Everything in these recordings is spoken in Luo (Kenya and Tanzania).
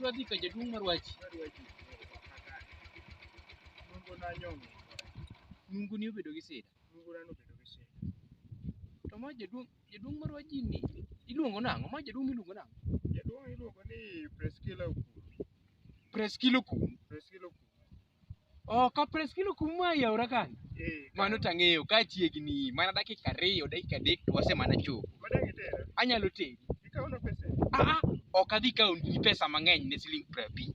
Wadhi ka jaduong' marwachi. Nunguni obedo gi sida. Lungura nobedo gi sida. To ma jaduong' jaduong' marwa ji ni iluongo nang'o? Ma jaduong' miluongo nang'o? Jaduong' iluongo ni Preskila Okuru. Preskilo kum. Preskila Okuru. Oh, ka Preskilo kum ma yaora kan. Eh, Mano tang'eyo ka chiegni mana dakika ariyo, dakika adek to wase mana chopo. Madang' itera. Anyalo teri. Ikawo na pesa. Ah, ah, ok adhi kawo ni pesa mang'eny ne siling' piero abich.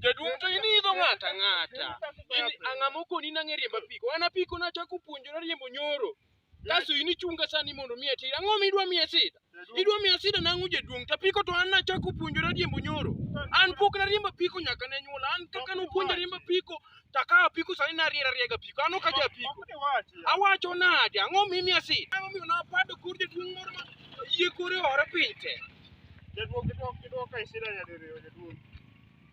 Jaduong' to in idho ng'ato ang'ata. In ang'ama okoni nang'e riembo apiko. An apiko nachako puonjora riembo nyoro. Kaso in ichunga sani mondo miye sida. Ang'o ma idwa miye sida? Idwa miye sida nang'o jaduong' to apiko to an nachako puonjora riembo nyoro. An pok nariembo apiko nyaka ne nyuola. An kaka nopuonja riembo apiko to akawo apiko sani nariera riega apiko. An ok aja apiko. Ok iwachi. Awacho nade? Ang'o ma imiya sida? Ang'o miyo napado kor jaduong' moro ma yie kore ore piny te? Jaduong' kidwoko kidwoko e sida nyadiriyo jaduong'.